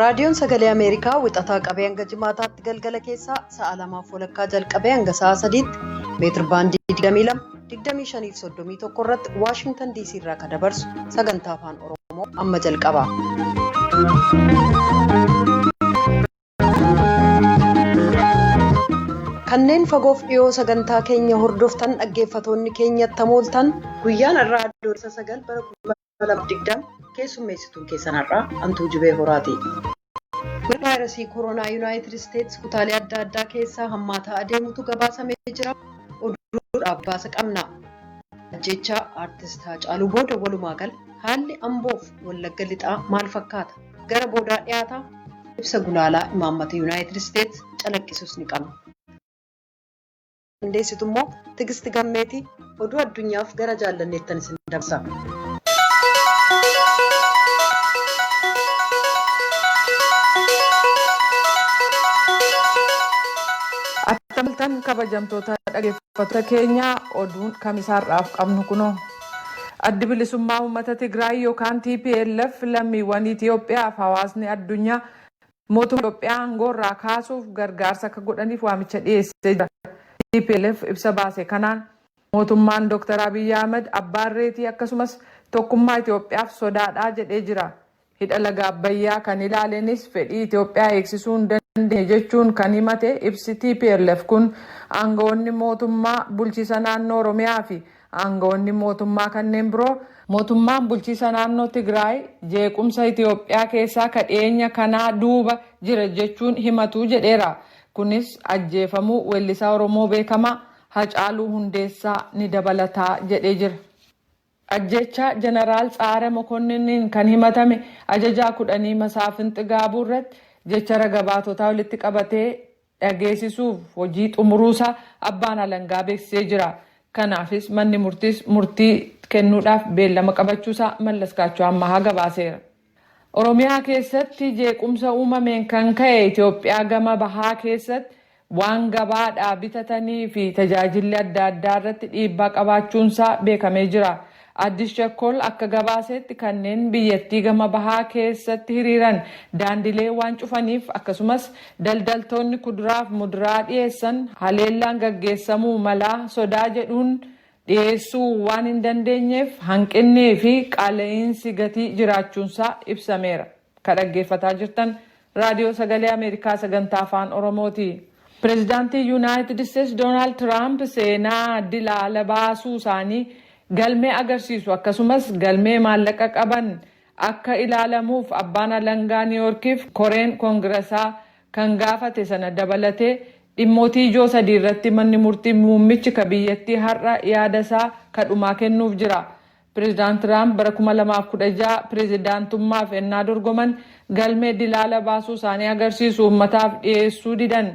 raadiyoon sagalee ameerikaa wixataa qabee hanga jimaataatti galgala keessaa sa'a lamaaf walakkaa jalqabee hanga sa'a sadiitti meetir baandii 22 25 fi 31 irratti waashingtan diisii irraa kan dabarsu sagantaa afaan oromoo amma jalqaba. Kanneen fagoof dhiyoo sagantaa keenya hordoftan dhaggeeffatoonni keenya tamooltan guyyaan irraa adoolessa sagal bara 2020 keessummeessituun keessan har'aa Antuu Jibee Horaati. Vaayirasii koronaa Yuunaayitid Isteets kutaalee adda addaa keessaa hammaataa adeemutu gabaasamee jira. Oduudhaaf gabaasa qabna. Ajjechaa Aartist Haacaaluu booda walumaa gala haalli Amboof Wallagga Lixaa maal fakkaata? gara boodaa dhiyaata. Ibsa gulaalaa imaammata Yuunaayitid Isteets calaqqisus ni qabna. Qindeessitu immoo Tigisti Gammeeti. Oduu addunyaaf gara Jaallanneettan isin dabarsa. Attam ooltan kabajamtoota dhaggeeffattoota keenyaa oduun kamisaarraaf qabnu kunoo. Addi Bilisummaa Uummata Tigraay yokaan tplf lammiiwwan Itiyoophiyaaf hawaasni addunyaa mootummaa Itiyoophiyaa aangoorraa kaasuuf gargaarsa akka godhaniif waamicha dhiyeessee jira. Tplf ibsa baase kanaan, mootummaan Dr. Abiy Ahimad abbaa irreetii akkasumas tokkummaa Itiyoophiyaaf sodaadha jedhee jira. Hidha Laga Abbayyaa kan ilaalenis fedhii Itoophiyaa eegsisuu hin dandeenye jechuun kan himate ibsi tplf kun, aanga'oonni mootummaa bulchiisa naannoo Oromiyaa fi aanga'oonni mootummaa kanneen biroo, mootummaan bulchiisa naannoo Tigraay jeequmsa Itoophiyaa keessaa ka dhiyeenya kanaa duuba jira jechuun himatu jedheera. Kunis ajjeefamuu weellisaa Oromoo beekamaa Hacaaluu Hundeessaa ni dabalata jedhee jira. Ajjeechaa Janaraal Tsa'aare Mokonninniin kan himatame ajajaa kudhanii Masaafin Xigaabuu irratti jecha raga-baatotaa walitti qabatee dhageesisuuf hojii xumuruusaa abbaan alangaa beeksisee jira. Kanaafis manni murtiis murtii kennuudhaaf beellama qabachuusaa Mallaskaachoo Ammahaa gabaaseera. Oromiyaa keessatti jeequmsa uumameen kan ka'e Itoophiyaa gama bahaa keessatti waan gabaadhaa bitatanii fi tajaajilli adda addaa irratti dhiibbaa qabaachuunsaa beekamee jira. Addis Chakkol akka gabaasetti kanneen biyyattii gama bahaa keessatti hiriiran daandilee waan cufaniif akkasumas daldaltoonni kuduraaf muduraa dhiyeessan haleellaan gaggeessamuu malaa sodaa jedhuun dhiyeessuu waan hin dandeenyeef hanqinnii fi qaala'iinsi gatii jiraachuunsaa ibsameera. Ka dhaggeeffataa jirtan Raadiyoo Sagalee Ameerikaa Sagantaa Afaan Oromooti. Pireezidaantiin Yunaayitid Isteets Doonaald Tiraamp seenaa dila ala baasuu isaanii galmee agarsiisu akkasumas galmee maallaqa qaban akka ilaalamuuf Abbaan Alangaa Niiwoorkiif koreen Kongirasaa kan gaafate sana dabalatee dhimmootii ijoo sadii irratti manni murtii muummichi ka biyyattii har'a yaada isaa ka dhumaa kennuuf jira. Prezidaant Tiraamp bara 2016 prezidaantummaaf ennaa dorgoman galmee dilaala baasuu isaanii agarsiisu uummataaf dhiyeessuu didan.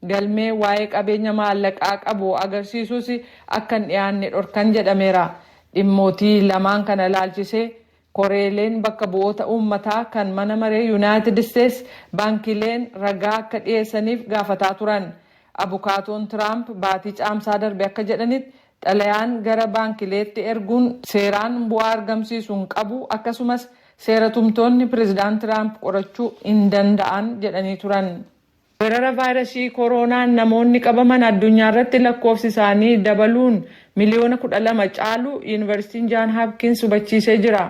Galmee waa'ee qabeenya maallaqaa qabu agarsiisus akka hin dhiyaanne dhorkan jedhameera. Dhimmootii lamaan kana ilaalchisee Koreeleen bakka bu'oota uummataa kan mana maree Yunaayitid Isteets baankiileen ragaa akka dhiyeessaniif gaafataa turan. Abukaatoon Tiraamp baatii Caamsaa darbe akka jedhanitti xalayaan gara baankileetti erguun seeraan bu'aa argamsiisu hin qabu akkasumas seera tumtoonni Pireezidant Tiraamp qorachuu hin danda'an jedhanii turan. Weerara vaayrasii koroonaan namoonni qabaman addunyaarratti lakkoofsi isaanii dabaluun miliyoona 12 caalu Yuunivarsiitiin Jaan Haapkiins hubachiisee jira.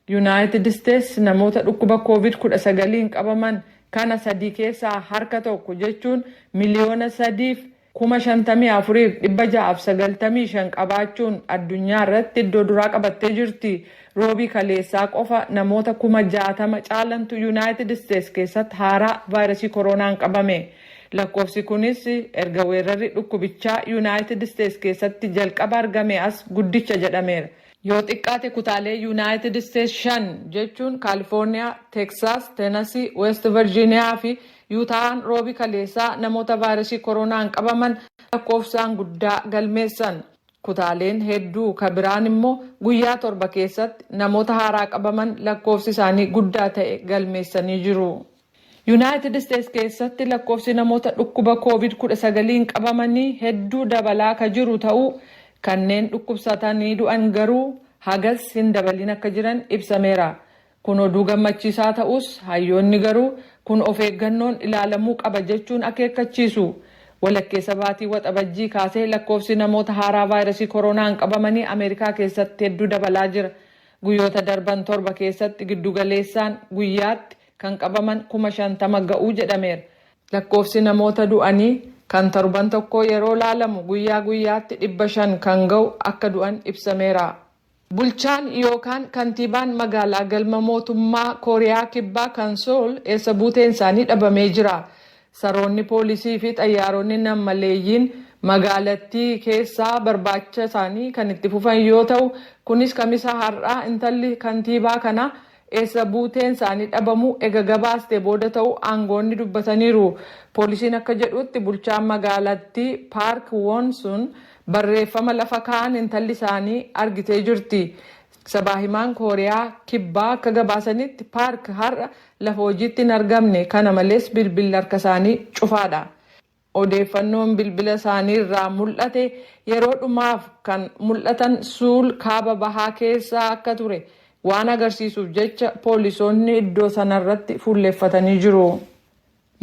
Yunaayitid Isteets namoota dhukkuba Kooviid 19n qabaman kana sadii keessaa harka tokko jechuun miliyoona 3 fi kuma 54 fi 695 qabaachuun addunyaa irratti iddoo duraa qabattee jirti. Roobii kaleessaa qofa namoota kuma 60 caalantu Yunaayitid Isteets keessatti haaraa vaayrasii koroonaan qabame. Lakkoofsi kunis erga weerrarri dhukkubichaa Yunaayitid Isteets keessatti jalqaba argamee as guddicha jedhameera. Yoo xiqqaate kutaalee Yunaayitid Isteets shan jechuun Kaalifoorniyaa, Teksaas, Tenasii, Weest Varjiiniyaa fi Yutaahaan Roobi kaleessaa namoota vaayrasii koroonaan qabaman lakkoofsaan guddaa galmeessan. Kutaaleen hedduu ka biraan immoo guyyaa torba keessatti namoota haaraa qabaman lakkoofsi isaanii guddaa ta'e galmeessanii jiru. Yunaayitid Isteets keessatti lakkoofsi namoota dhukkuba Kooviid 19n qabamanii hedduu dabalaa ka jiru ta'uu, kanneen dhukkubsatanii du'an garuu hagas hin dabaliin akka jiran ibsameera. Kun oduu gammachiisaa ta'us, hayyoonni garuu kun of eeggannoon ilaalamuu qaba jechuun akeekkachiisu. Walakkeessa baatii Waxabajjii kaasee lakkoofsi namoota haaraa vaayrasii koroonaan qabamanii Ameerikaa keessatti hedduu dabalaa jira. Guyyoota darban torba keessatti giddu galeessaan guyyaatti kan qabaman kuma 50 ga'u jedhameera. Lakkoofsi namoota du'anii kan torban tokkoo yeroo laalamu guyyaa guyyaatti 500 kan ga'u akka du'an ibsameera. Bulchaan yookaan kantiibaan magaalaa galma mootummaa Kooriyaa Kibbaa kan Sool eessa buuteen isaanii dhabamee jira. Saroonni poolisii fi xayyaaronni nam-maleeyyiin magaalattii keessaa barbaacha isaanii kan itti fufan yoo ta'u, kunis Kamisa har'aa intalli kantiibaa kanaa eessa buuteen isaanii dhabamuu ega gabaastee booda ta'uu aangoonni dubbataniiru. Poolisiin akka jedhuutti bulchaan magaalattii Paark Woon Sun barreeffama lafa kaa'an intalli isaanii argitee jirti. Sabaa himaan Kooriyaa Kibbaa akka gabaasanitti Paark har'a lafa hojiitti hin argamne kana malees bilbilli harka isaanii cufaadha. Odeeffannoon bilbila isaanii irraa mul'ate yeroo dhumaaf kan mul'atan Suul kaaba bahaa keessa akka ture waan agarsiisuuf jecha poolisoonni iddoo sanarratti fuulleffatanii jiru.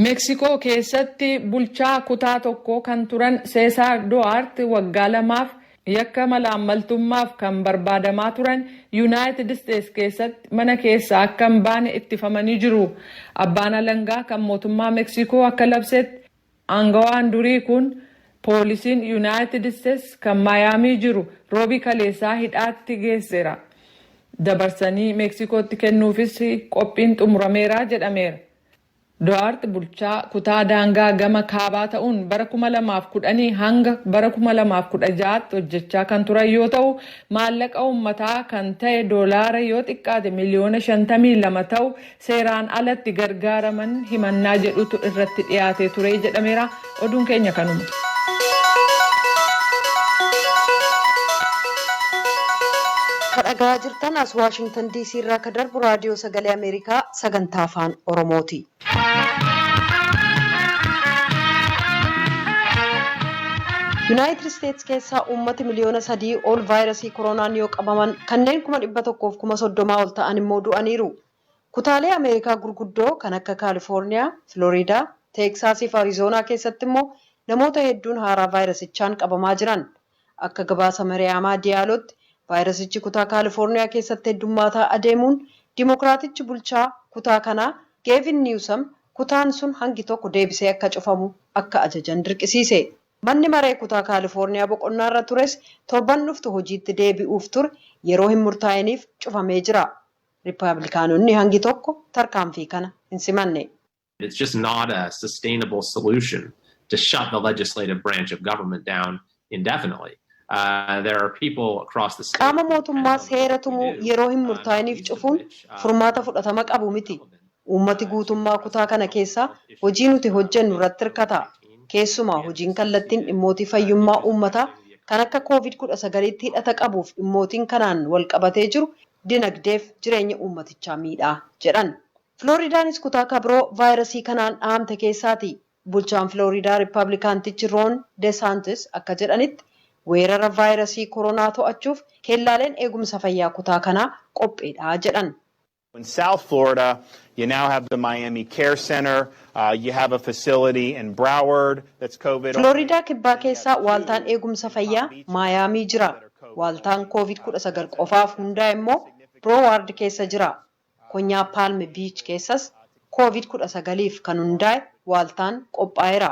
Meksikoo keessatti bulchaa kutaa tokkoo kan turan Seesaar Duwaart waggaa lamaaf Yakka malaammaltummaaf kan barbaadamaa turan Yunaayitid Isteets keessatti mana keessaa akka hin baane ittifamanii jiru. Abbaan alangaa kan mootummaa Meksiikoo akka labsetti, aangawaan durii kun poolisiin Yunaayitid Isteets kan Maayaamii jiru Roobii kaleessaa hidhaatti geesseera. Dabarsanii Meksiikootti kennuufis qophiin xumurameera jedhameera. Do'aart bulchaa kutaa daangaa gama kaabaa ta'uun bara 2010 hanga bara 2016tti hojjechaa kan turan yoo ta'u, maallaqa uummataa kan ta'e doolaara yoo xiqqaate miliyoona 52 ta'u seeraan ala itti gargaaraman himannaa jedhutu irratti dhiyaatee ture jedhameera. Oduun keenya kanuma. Ka dhagahaa jirtan as Waashingtan DC irraa ka darbu raadiyoo sagalee Ameerikaa sagantaa afaan Oromooti. Yuunaayitid Isteets keessaa uummati miliyoona sadii ol vaayirasii koronaan yoo qabaman kanneen kuma dhibba tokkoof kuma soddomaa ol ta'an immoo du'aniiru. Kutaalee Ameerikaa gurguddoo kan akka Kaalifoorniyaa, Filooriidaa, Teeksaasii fi Arizoonaa keessatti immoo namoota hedduun haaraa vaayirasichaan qabamaa jiran. Akka gabaasa Mariyaamaa Diyaalootti vaayirasichi kutaa Kaalifoorniyaa keessatti heddummaataa adeemuun Dimokiraatichi bulchaa kutaa kanaa Geevin Niwusam kutaan sun hangi tokko deebisee akka cufamu akka ajajan dirqisiise. Manni maree kutaa Kaalifoorniyaa boqonnaarra tures torban dhuftu hojiitti deebi'uuf ture yeroo hin murtaa'iniif cufamee jira. Rippaablikaanonni hangi tokko tarkaanfii kana hin simanne. It's just not a sustainable solution to shut the legislative branch of government down indefinitely. There are people across the state. Qaama mootummaa seera tumu yeroo hin murtaa'iniif cufuun furmaata fudhatama qabu miti. Uummati guutummaa kutaa kana keessaa hojii nuti hojjennu irratti hirkata. Keessumaa hojiin kallattiin dhimmootii fayyummaa uummataa kan akka covid kudha sagaliitti hidhata qabuuf dhimmootiin kanaan wal qabatee jiru dinagdeef jireenya uummatichaa miidha jedhan. Filooridaanis kutaa ka biroo vaayirasii kanaan dhahamte keessaati. Bulchaan Filooridaa Rippaablikaantichi Roon Desaantis akka jedhanitti, weerara vaayirasii koronaa to'achuuf keellaaleen eegumsa fayyaa kutaa kanaa qophiidha jedhan. In South Florida, you now have the Miami Care Center. Filooriidaa Kibbaa keessa waaltaan eegumsa fayyaa Maayaamii jira. Waaltaan Covid 19 qofaaf hundaa'e immoo Broward keessa jira. Konyaa Palm Beach keessas Covid 19f kan hundaa'e waaltaan qophaa'eera.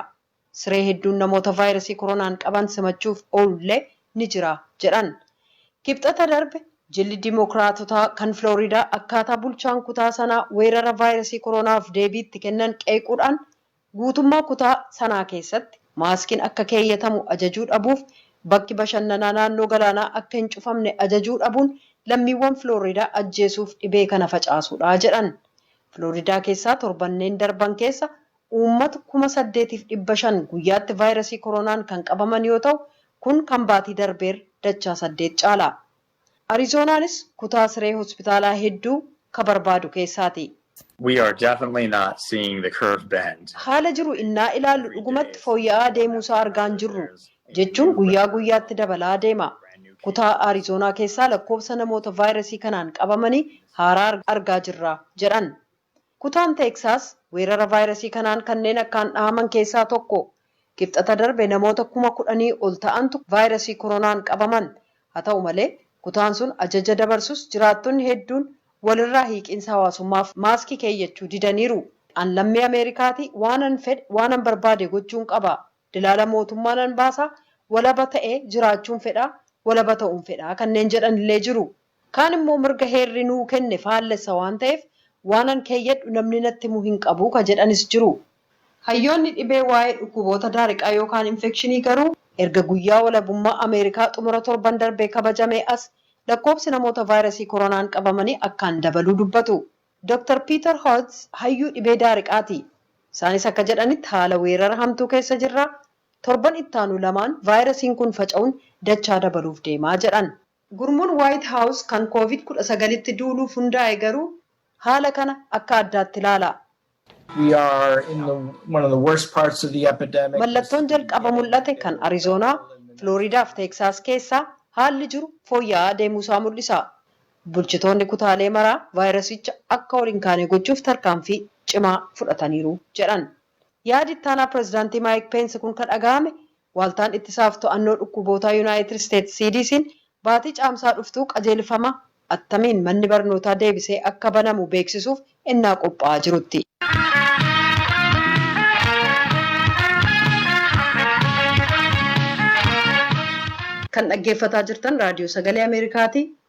Siree hedduun namoota vaayrasii koronaan qaban simachuuf oolullee ni jira jedhan. Kibxata darbe jilli Dimookiraatotaa kan Filooriidaa akkaataa bulchaan kutaa sanaa weerara vaayrasii koronaaf deebii itti kennan qeequudhaan guutummaa kutaa sanaa keessatti maaskiin akka keeyyatamu ajajuu dhabuuf bakki bashannanaa naannoo galaanaa akka hin cufamne ajajuu dhabuun lammiiwwan Filooriidaa ajjeesuuf dhibee kana facaasuudha jedhan. Filooriidaa keessaa torbanneen darban keessa Uummata kuma saddeetiif dhibba shan guyyaatti vaayrasii koronaan kan qabaman yoo ta'u, kun kan baatii darbeerra dachaa saddeet caala. Arizoonaanis kutaa siree hospitaalaa hedduu ka barbaadu keessaati. We are definitely not seeing the curve bend. Haala jiru innaa ilaallu dhugumatti fooyya'aa deemuusaa argaa hin jirru. Jechuun guyyaa guyyaatti dabalaa deema. Kutaa Arizoonaa keessaa lakkoofsa namoota vaayrasii kanaan qabamanii haaraa argaa jirra, jedhan. Kutaan Teeksaas weerara vaayrasii kanaan kanneen akkaan dhahaman keessaa tokko. Kibxata darbe namoota kuma kudhanii ol ta'antu vaayrasii koronaan qabaman. Haa ta'u malee, kutaan sun ajaja dabarsus jiraattonni hedduun walirraa hiiqiinsa hawaasummaaf maaskii keeyyachuu didaniiru. An lammii Ameerikaati, waanan fedhe, waanan barbaade gochuun qaba. Dilaala mootummaa nan baasa, walaba ta'ee jiraachuun fedha, walaba ta'uun fedha kanneen jedhanillee jiru. Kaan immoo mirga heerri nuu kenne faallessa waan ta'eef waanan keeyyadhu namni natti himu hin qabu ka jedhanis jiru. Hayyoonni dhibee waa'ee dhukkuboota daariqaa yookaan infekshinii garuu erga guyyaa walabummaa Ameerikaa xumura torban darbee kabajamee as lakkoobsi namoota vaayirasii koronaan qabamanii akkaan dabaluu dubbatu. Doktar Piitar Hootz hayyuu dhibee daariqaati. Isaanis akka jedhanitti haala weerara hamtuu keessa jirra. Torban ittaanu lamaan vaayirasiin kun faca'uun dachaa dabaluuf deema jedhan. Gurmuun Waayit Haawus kan Koovid 19tti duuluuf hundaa'e garuu haala kana akka addaatti ilaala. Mallattoon jalqaba mul'ate kan Arizoonaa, Filooriidaa fi Teeksaas keessaa haalli jiru fooyya'aa adeemuusaa mul'isa. Bulchitoonni kutaalee maraa vaayirasicha akka ol hin kaane gochuuf tarkaanfii cimaa fudhataniiru jedhan. Yaadi ittaanaa pirezidaantii Maayik Peensi kun ka dhaga'ame Waaltaan Ittisaaf To'annoo Dhukkubootaa Yunaayitid Isteets, CDC'n, baatii Caamsaa dhuftuu qajeelfama attamiin manni barnootaa deebisee akka banamu beeksisuuf ennaa qophaa'aa jirutti. Kan dhaggeeffataa jirtan Raadiyoo Sagalee Ameerikaati.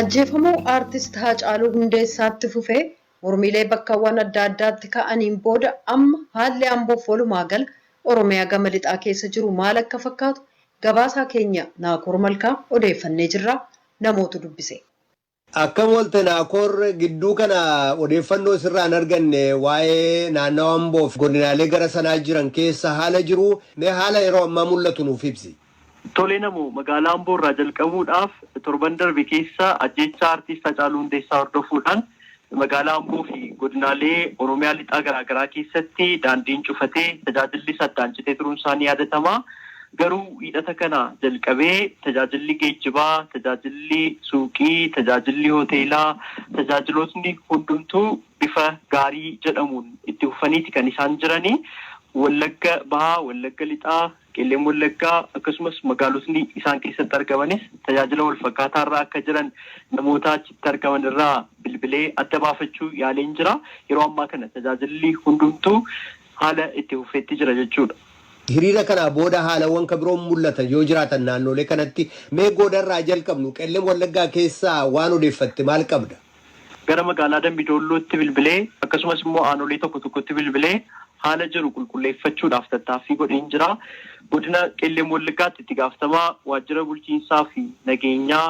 Ajjeefamuu Aartist Haacaaluu Hundeessaatti fufee mormiilee bakkawwan adda addaatti ka'aniin booda amma haalli Amboof walumaa gala Oromiyaa gama lixaa keessa jiru maal akka fakkaatu gabaasaa keenya Naakoor Malkaa odeeffannee jirra namootu dubbise. Akkam oolte Naakoor, gidduu kana odeeffannoo sirraa hin arganne waa'ee naannawa Amboo fi godinaalee gara sanaa jiran keessa haala jiru, mee haala yeroo ammaa mul'atu nuuf ibsi. Tole Namoo, magaalaa Amboo irraa jalqabuudhaaf torban darbe keessa ajjeechaa Artiist Hacaaluu Hundeessaa hordofuudhaan magaalaa Amboo fi godinaalee Oromiyaa lixaa garaagaraa keessatti daandiin cufatee tajaajillis addaan citee turuun isaa ni yaadatama. Garuu Wiixata kana jalqabee tajaajilli geejjibaa, tajaajilli suuqii, tajaajilli hoteelaa, tajaajilootni hundumtuu bifa gaarii jedhamuun itti fufaniiti kan isaan jirani. Wallagga Bahaa, Wallagga Lixaa, Qellem Wallaggaa akkasumas magaalotni isaan keessatti argamanis tajaajila walfakkaataa irra akka jiran namoota achitti argaman irraa bilbilee adda baafachuu yaaleen jira. Yeroo ammaa kana tajaajilli hundumtuu haala itti fufetti jira jechuudha. Hiriira kanaa booda haalawwan ka biroon mul'atan yoo jiraatan naannoolee kanatti mee Goodarraa haa jalqabnu. Qellem Wallaggaa keessaa waan odeeffatte maal qabda? Gara magaalaa Dambi Doollootti bilbilee akkasumas immoo aanolee tokko tokkotti bilbilee haala jiru qulqulleeffachuudhaaf tattaaffii godheen jira. Godina Qellem Wallaggaatti itti gaafatamaa waajjira bulchiinsaa fi nageenyaa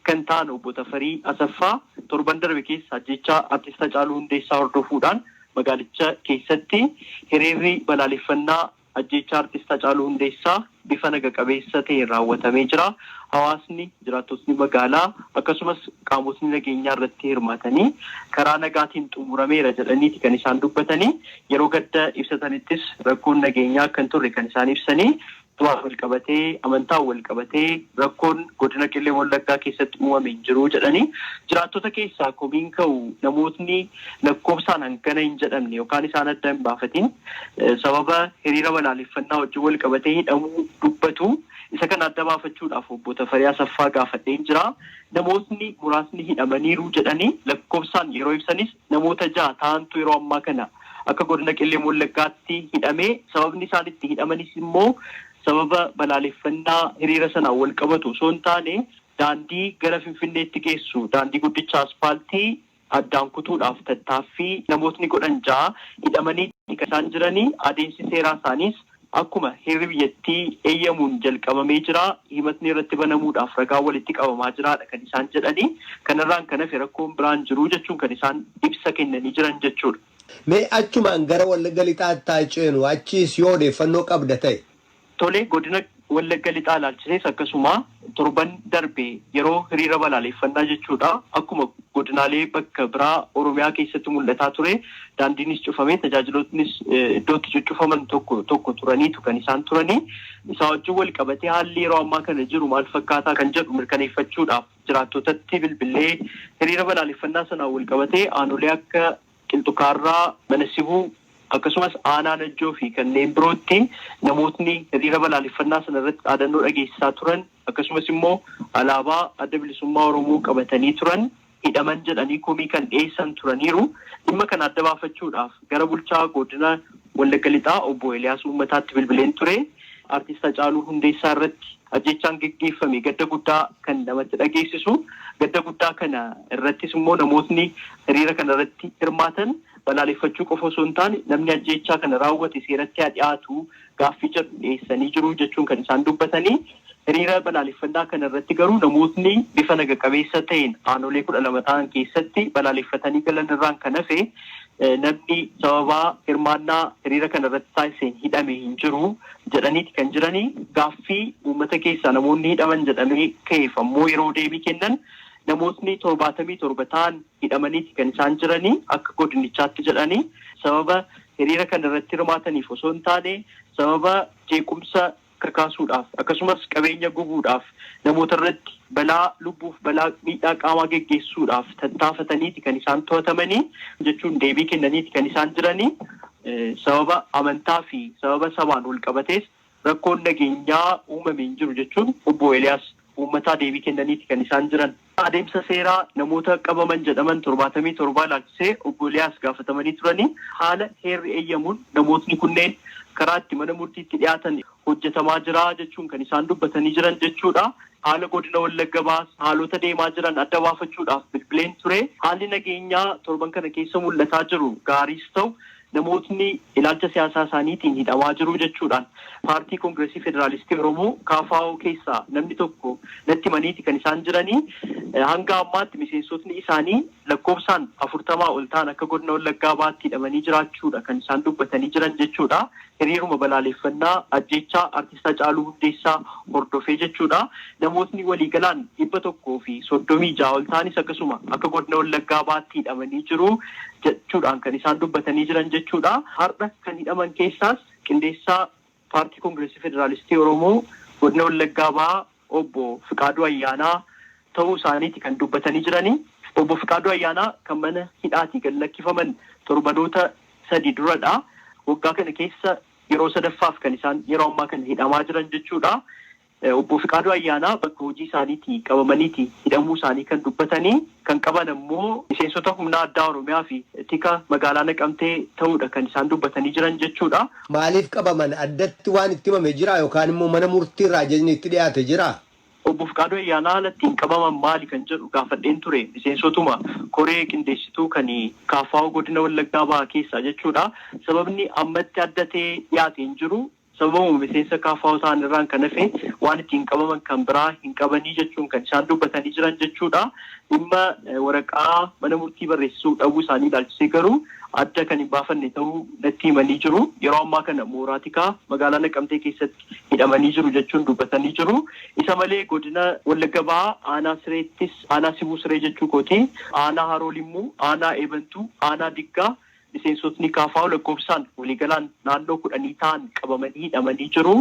kan ta'an Obbo Tafarii Asaffaa torban darbe keessa ajjeechaa Artist Hacaaluu Hundeessaa hordofuudhaan magaalicha keessatti hiriirri balaaleffannaa ajjeechaa Artist Hacaaluu Hundeessaa bifa naga qabeessa ta'een raawwatamee jira. Hawaasni, jiraattotni magaalaa akkasumas qaamotni nageenyaa irratti hirmaatanii karaa nagaatiin xumurameera jedhaniiti kan isaan dubbatanii. Yeroo gadda ibsatanittis rakkoon nageenyaa akka hin turre kan isaan ibsanii. Du'aan walqabatee, amantaan walqabatee rakkoon godina Qellem Wallaggaa keessatti uumame hin jiru jedhanii, jiraattota keessaa komiin ka'u namootni lakkoofsaan hangana hin jedhamne yookaan isaan adda hin baafatiin sababa hiriira balaaleffannaa wajjin walqabatee hidhamuu dubbatu. Isa kana adda baafachuudhaaf Obbo Tafarii Asaffaa gaafadheen jira. Namootni muraasni hidhamaniiru jedhanii lakkoofsaan yeroo ibsanis, Namoota 6 ta'antu yeroo ammaa kana akka Godina Qellem Wallaggaatti hidhamee sababni isaan itti hidhamanis immoo sababa balaaleffannaa hiriira sanaan walqabatu osoo hin taane daandii gara Finfinneetti geessu daandii guddicha aspaaltii addaan kutuudhaaf tattaaffii namootni godhan 6 hidhamanii kan isaan jiranii adeemsi seeraa isaaniis Akkuma heerri biyyattii eeyyamuun jalqabamee jira, himatni irratti banamuudhaaf ragaan walitti qabamaa jira dha kan isaan jedhani. Kanarraan kan hafe rakkoon biraa hin jiru jechuun kan isaan ibsa kennanii jiran jechuudha. Mee achumaan gara Wallagga Lixaatti haa ceenu, achiis yoo odeeffannoo qabda ta'e. Tole, godina Wallagga Lixaa ilaalchisees akkasuma. Torban darbe yeroo hiriira balaaleeffannaa jechuudha akkuma godinaalee bakka biraa Oromiyaa keessatti mul'ataa ture daandiinis cufamee tajaajilootnis iddoo itti cuccufaman tokko tokko turaniitu kan isaan turanii. Isaa wajjin walqabatee haalli yeroo ammaa kana jiru maal fakkaataa kan jedhu mirkaneeffachuudhaaf jiraattootatti bilbillee hiriira balaaleeffannaa sanaan walqabatee aanolee akka Qilxu Kaarraa, Mana Sibuu, akkasumas Aanaa Najjoo fi kanneen birootti namootni hiriira balaaleffannaa sana irratti dhaadannoo dhageessisaa turan akkasumas immoo alaabaa Adda Bilisummaa Oromoo qabatanii turan hidhaman jedhanii komii kan dhiyeessan turaniiru. Dhimma kana adda baafachuudhaaf gara bulchaa Godina Wallagga Lixaa Obbo Eliyaas Uummataatti bilbileen ture. Artist Hacaaluu Hundeessaa irratti Ajjeechaan geggeeffame gadda guddaa kan namatti dhageessisu, gadda guddaa kana irrattis immoo namootni hiriira kana irratti hirmaatan balaaleffachuu qofa osoo hin taane namni ajjeechaa kana raawwate seeratti haa dhiyaatu gaaffii jedhu dhiyeessanii jiru jechuun kan isaan dubbatanii hiriira balaaleffannaa kana irratti garuu namootni bifa naga qabeessa ta'een aanolee 12 ta'an keessatti balaaleffatanii galan irraan kan hafe namni sababaa hirmaannaa hiriira kana irratti taasiseen hidhame hin jiru. jedhaniiti kan jiranii. Gaaffii uummata keessaa namoonni hidhaman jedhamee ka'eef ammoo yeroo deebii kennan namootni 77 ta'an hidhamaniiti kan isaan jiranii akka godinichaatti jedhanii sababa hiriira kana irratti hirmaataniif osoo hin taane sababa jeequmsa kakaasuudhaaf akkasumas qabeenya gubuudhaaf namoota irratti balaa lubbuuf balaa miidhaa qaamaa geggeessuudhaaf tattaafataniiti kan isaan to'atamanii jechuun deebii kennaniiti kan isaan jiranii. Sababa amantaa fi sababa sabaan walqabatees rakkoon nageenyaa uumame hin jiru jechuun Obbo Eeliyaas uummataa deebii kennaniiti kan isaan jiran. Adeemsa seeraa namoota qabaman jedhaman 77 ilaalchisee Obbo Eeliyaas gaafatamanii turanii, haala heerri eeyyamuun namootni kunneen karaa itti mana murtiitti dhiyaatan hojjetamaa jira jechuun kan isaan dubbatanii jiran jechuudha. Haala godina Wallagga Bahaas haalota deemaa jiran adda baafachuudhaaf bilbileen ture. Haalli nageenyaa torban kana keessa mul'ataa jiru gaariis ta'u namootni ilaalcha siyaasaa isaaniitiin hidhamaa jiru jechuudhaan Paartii Kongirasii Federaalistii Oromoo, kfo, keessaa namni tokko natti himaniiti kan isaan jiranii. Hanga ammaatti miseensotni isaanii lakkoofsaan afurtamaa ol ta'an akka godina Wallaggaa Bahaatti hidhamanii jiraachuudha kan isaan dubbatanii jiran jechuudha. Hiriiruma balaaleeffannaa ajjeechaa Artist Hacaaluu Hundeessaa hordofee jechuudha namootni waliigalaan 136 ol ta'anis akkasuma akka Godina Wallaggaa Bahaatti hidhamanii jiru jechuudhaan kan isaan dubbatanii jiran jechuudha. Har'a kan hidhaman keessaas qindeessaa Paartii Kongirasii Federaalistii Oromoo Godina Wallaggaa Bahaa Obbo Fiqaaduu Ayyaanaa ta'uu isaaniiti kan dubbatanii jiranii. Obbo Fiqaaduu Ayyaanaa kan mana hidhaatii gad lakkifaman torbanoota sadii duradha. Waggaa kana keessa yeroo sadaffaaf kan isaan yeroo ammaa kana hidhamaa jiran jechuudha. Obbo Fiqaaduu Ayyaanaa bakka hojii isaaniitii qabamaniiti hidhamuu isaanii kan dubbatanii. kan qaban ammoo miseensota humna addaa Oromiyaa fi tika magaalaa Naqamtee ta'uudha kan isaan dubbatanii jiran jechuudha. Maaliif qabaman? Addatti waan itti himame jiraa yookaan immoo mana murtii irraa ajajni itti dhiyaate jiraa? Obbo Fiqaaduu Ayyaanaa haala ittiin qabaman maali kan jedhu gaafadheen ture. Miseensotuma koree qindeessituu kan kfo godina Wallaggaa bahaa keessaa jechuudha. Sababni ammatti adda ta'ee dhiyaate hin jiru. Sababuma miseensa KFO ta'an irraan kan hafe waan ittiin qabaman kan biraa hin qabanii jechuun kan isaan dubbatanii jiran jechuu dha. Dhimma waraqaa mana murtii barreessisuu dhabuu isaanii ilaalchisee garuu adda kan hin baafanne ta'uu natti himanii jiru. Yeroo ammaa kana mooraa tikaa magaalaa Naqamtee keessatti hidhamanii jiru jechuun dubbatanii jiru. Isa malee godina Wallagga Bahaa aanaa Sireettis aanaa Sibuu Siree jechuu kooti, aanaa Haroo Limmuu, aanaa Eebantuu, aanaa Diggaa, Miseensotni kfo lakkoofsaan waliigalaan naannoo kudhanii ta'an qabamanii hidhamanii jiru.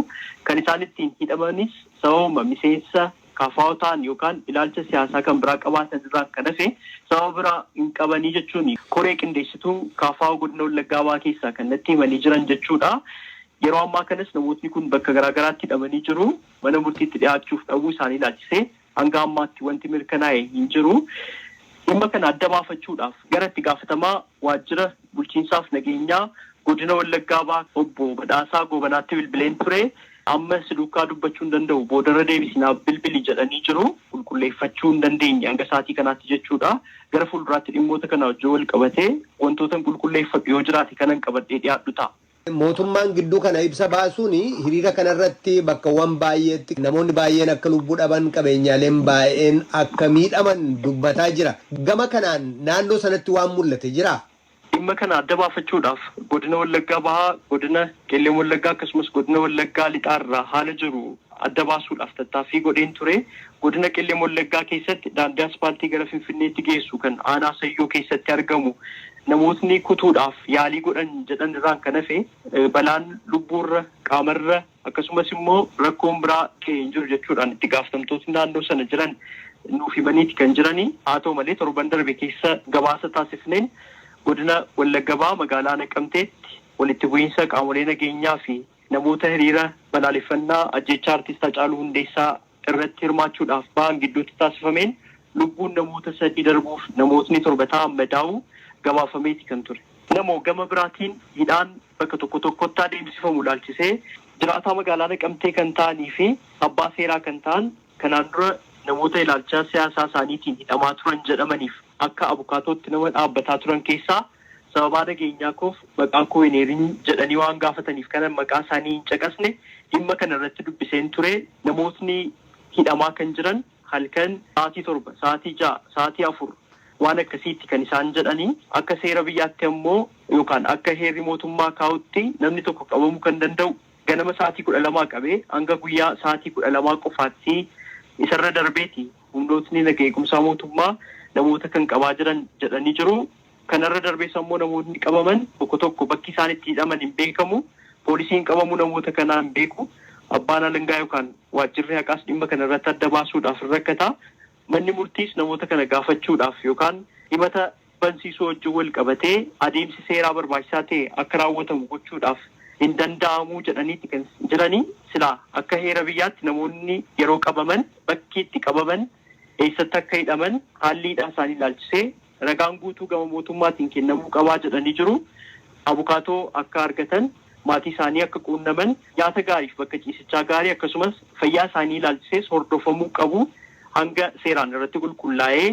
Kan isaan ittiin hidhamanis sababuma miseensa kfo ta'an yookaan ilaalcha siyaasaa kan biraa qabaatan irraan kan hafe sababa biraa hin qabanii jechuun koree qindeessituu kfo Godina Wallaggaa Bahaa keessaa kan natti himanii jiran jechuu dha. Yeroo ammaa kanas namootni kun bakka garaa garaatti hidhamanii jiru. Mana murtiitti dhiyaachuuf dhabuu isaanii ilaalchisee Hanga ammaatti wanti mirkanaa'e hin jiru. Dhimma kana adda baafachuudhaaf gara itti gaafatamaa waajjira bulchiinsaaf nageenyaa godina Wallaggaa Bahaa obbo Badhaasaa Goobanaatti bilbileen ture. Amma si duukaa dubbachuu hin danda'u boodarra deebisi naaf bilbili jedhanii jiru. Qulqulleeffachuu hin dandeenye hanga sa'aatii kanaatti jechuudha. Gara fuulduraatti dhimmoota kanaa wajjin walqabatee wantootan qulqulleeffadhu yoo jiraate kanan qabadhee dhiyaadhu ta'a. Mootummaan gidduu kana ibsa baasuun hiriira kana irratti bakkawwan baay'eetti namoonni baay'een akka lubbuu dhaban, qabeenyaaleen baay'een akka miidhaman dubbataa jira. Gama kanaan naannoo sanatti waan mul'ate jiraa? Dhimma kana adda baafachuudhaaf Godina Wallaggaa Bahaa, Godina Qellem Wallaggaa akkasumas Godina Wallaggaa Lixaa irraa haala jiru adda baasuudhaaf tattaaffii godheen ture. Godina Qellem Wallaggaa keessatti daandii aspaaltii gara Finfinneetti geessu kan aanaa Sayyoo keessatti argamu namootni kutuudhaaf yaalii godhan jedhan irraan kan hafe balaan lubbuurra, qaamarra akkasumas immoo rakkoon biraa gahe hin jiru jechuudhaan itti gaaftamtootni naannoo sana jiran nuuf himaniiti kan jirani. Haa ta'u malee torban darbe keessa gabaasa taasifneen godina Wallagga Bahaa magaalaa Naqamteetti walitti bu'iinsa qaamolee nageenyaa fi Namoota hiriira balaaleffannaa ajjeechaa Artist Hacaaluu Hundeessaa irratti hirmaachuudhaaf bahan gidduutti taasifameen lubbuun namoota sadii darbuuf namootni 7 ta'an madaa'uu gabaafameeti kan ture. Namoo, Gama biraatiin hidhaan bakka tokko tokkotti adeemsifamu ilaalchisee jiraataa magaalaa Naqamtee kan ta'anii fi abbaa seeraa kan ta'an kanaan dura namoota ilaalcha siyaasaa isaaniitiin hidhamaa turan jedhamaniif akka abukaatootti nama dhaabbataa turan keessaa sababaa nageenyaa koof maqaa koo hin eerin jedhanii waan gaafataniif kanan maqaa isaanii hin caqasne dhimma kana irratti dubbiseen ture namootni hidhamaa kan jiran halkan sa'aatii 7, sa'aatii 6, sa'aatii 4 waan akkasiiti kan isaan jedhani akka seera biyyaatti ammoo yookaan akka heerri mootummaa kaa'utti namni tokko qabamu kan danda'u ganama sa'aatii 12 qabee hanga guyyaa sa'aatii 12 qofaatti isarra darbeeti humnootni naga eegumsaa mootummaa namoota kan qabaa jiran jedhanii jiru. Kanarra darbees ammoo namootni qabaman tokko tokko bakki isaan itti hidhaman hin beekamu, poolisiin qabamuu namoota kanaa hin beeku, abbaan alangaa yookaan waajjirri haqaas dhimma kana irratti adda baasuudhaaf hin rakkata, manni murtiis namoota kana gaafachuudhaaf yookaan himata bansiisuu wajjin wal qabatee adeemsi seeraa barbaachisaa ta'e akka raawwatamu gochuudhaaf hin danda'amu jedhaniiti kan jirani. Silaa akka heera biyyaatti namoonni yeroo qabaman bakki itti qabaman, eessatti akka hidhaman, haalli hidhaa isaanii ilaalchisee Ragaan guutuu gama mootummaatiin kennamuu qabaa jedhanii jiru. Abukaatoo akka argatan, maatii isaanii akka quunnaman, nyaata gaariif bakka ciisichaa gaarii akkasumas fayyaa isaanii ilaalchisees hordofamuu qabu hanga seeraan irratti qulqullaa'ee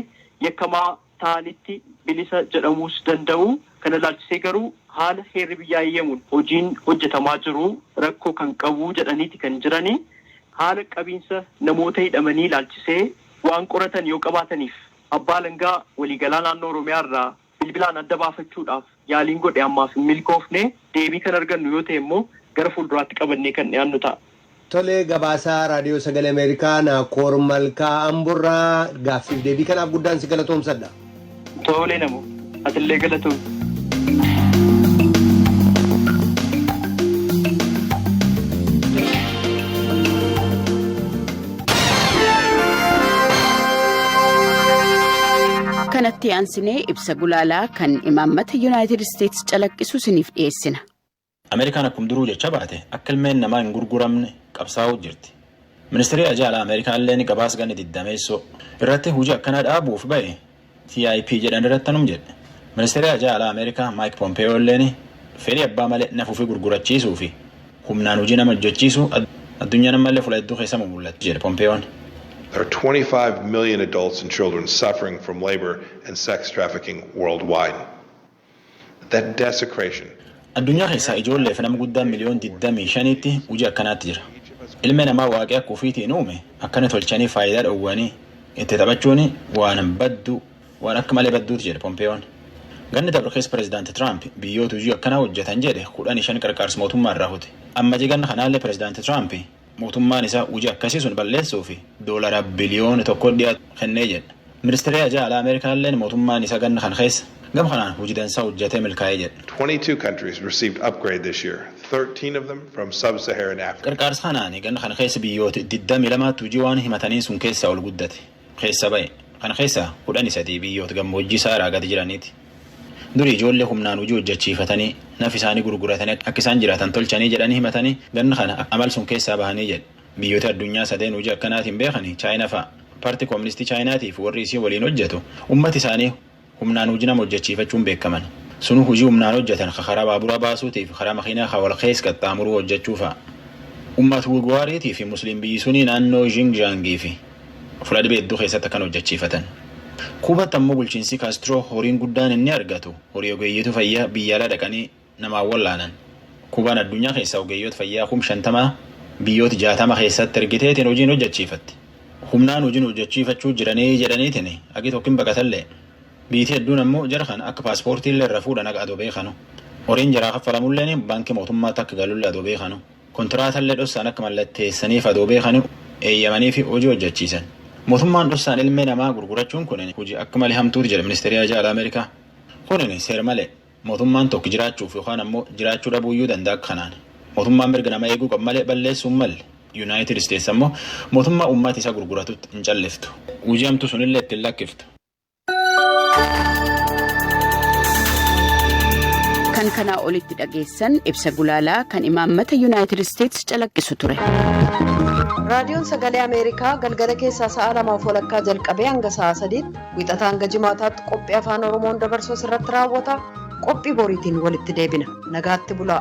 yakkamaa ta'anitti bilisa jedhamuus danda'u. Kana ilaalchisee garuu haala heerri biyyaa eeyyamuun hojiin hojjetamaa jiru rakkoo kan qabu jedhaniiti kan jirani. Haala qabiinsa namoota hidhamanii ilaalchisee waan qoratan yoo qabaataniif Abbaa Alangaa Waliigalaa Naannoo Oromiyaa irraa bilbilaan adda baafachuudhaaf yaaliin godhe ammaaf hin milkoofne, deebii kan argannu yoo ta'e immoo gara fuulduraatti qabannee kan dhiyaannu ta'a. Tole, Gabaasaa Raadiyoo Sagalee Ameerikaa Naakoor Malkaa Amborraa gaaffiif deebii kanaaf guddaan si galatoomsadha. Tole Namoo. Atillee galatoomi. kanatti aansinee ibsa gulaalaa kan imaammata yuunaayitid isteetsi calaqqisu isiniif dhiyeessina. Ameerikaan akkum duruu jecha baate akka ilmeen namaa hin gurguramne qabsaa'uu jirti. Ministirii Haajaa Alaa Ameerikaalleen gabaas ganni diddameessoo. irratti hujii akkanaa dhaabuuf bahe TIP jedhan irratti tanum jedhe. Ministeerii Haajaa Alaa Ameerikaa Maayik Pompeeyoolleen fedhii abbaa malee naf ufii gurgurachiisuu fi humnaan hujii nama hojjachiisuu addunyaan ammallee fula hedduu keessa mumullatti jedhe Pompeeyoon. There are 25 million adults and children suffering from labor and sex trafficking worldwide. Addunyaa keessaa ijoollee fi nama guddaan miliyoon digdamii shaniitti hujii akkanaatti jira. Ilmee namaa Waaqii akka ufiitiin uume akkana tolchanii faayidaa dhowwanii itti taphachuun waan badduu, waan akka malee badduuti jedhe Pompeeyoon. Ganna dabre keessa Pirezidaanti Tiraamp biyyooti hujii akkanaa hojjatan jedhe kudhanii shan qarqaarsa mootummaa irraa kute. Ammajii ganna kanaallee Pirezidaanti Tiraamp Mootummaan isaa hojii akkasii sun balleessuu fi doolaara biliyoona tokko dhiyaatu kennee jedha. Ministeerri Haajaa Alaa Ameerikaa illeen mootummaan isaa ganna kana keessa gama kanaan hojii dansaa hojjatee milkaa'e jedha. 22 countries received upgrade this year, 13 of them from sub-Saharan Africa. Qarqaarsa kanaan ganna kana keessa biyyoota digdamii lamaatti hojii waan himataniin sun keessaa ol guddate. keessa ba'e. Kana keessaa kudhanii sadii biyyoota gammoojjii Saaraa gadi jiraniiti. Durii ijoollee humnaan hojii hojjechiifatanii, naf isaanii gurguratanii akka isaan jiraatan tolchanii jedhanii himatanii ganna kana amal sun keessaa bahanii jedhe. Biyyooti addunyaa sadeen hojii akkanaatiin beekani Chaayina fa'a. Parti Kooministii Chaayinaatii fi warri isiin waliin hojjetu ummati isaanii humnaan huji nama hojjachiifachuun beekaman. Sunu huji humnaan hojjatan ka karaa baabura baasuutii fi karaa makiinaa ka wal keessa qaxxaamuruu hojjachuu fa'a. Ummat Wiguwaariitii fi Musliim biyyi sunii naannoo Xinjiang fi fula dhibi hedduu keessatti akkan hojjachiifatan. Kuubatti ammoo bulchiinsi Kaastiroo horiin guddaan inni argatu horii ogeeyyiitu fayyaa biyya alaa dhaqanii namaa wallaanan. Kuubaan addunyaa keessaa ogeeyyoota fayyaa kum 50 biyyoota 60 keessatti ergiteetiin hojiin hojjachiifatti. Humnaan hojiin hojjachiifachuu jiranii jedhaniitiin hagi tokko hin baqatallee. Biitii hedduun ammoo jara kana akka paaspoortiillee irra fuudhan haga adoo beekanu. Horiin jaraa kaffalamulleen baankii mootummaatti akka galullee adoo beekanu. Kontiraatallee dhossaan akka mallatteessaniif adoo beekanu eeyyamaniifi hojii hojjachiisan. Mootummaan dhossaan ilmee namaa gurgurachuun kun hojii akka malee hamtuuti jedha ministeeri haajaa alaa Ameerikaa. Kun seer malee. Mootummaan tokk jiraachuuf yookaan ammoo jiraachuu dhabuuyyuu danda'a akka kanaan. Mootummaan mirga namaa eeguu qaba malee balleessuu hin malle. Yunaayitid Isteets ammoo mootummaa uummati isa gurguratutti hin calliftu. Hujii hamtuu sunillee itti hin lakkiftu. Kan kanaa olitti dhageessan ibsa gulaalaa kan imaammata Yunaayitid Isteets calaqqisu ture. Raadiyoon Sagalee Ameerikaa galgala keessaa sa'a lamaaf walakkaa jalqabee hanga sa'a sadiitti Wixataa hanga Jimaataatti qophii Afaan Oromoon dabarsu asirratti raawwata. Qophii boriitiin walitti deebina. Nagaatti bulaa.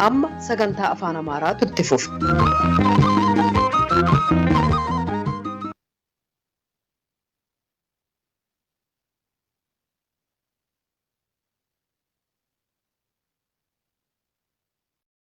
Amma sagantaa Afaan Amaaraatu itti fufa.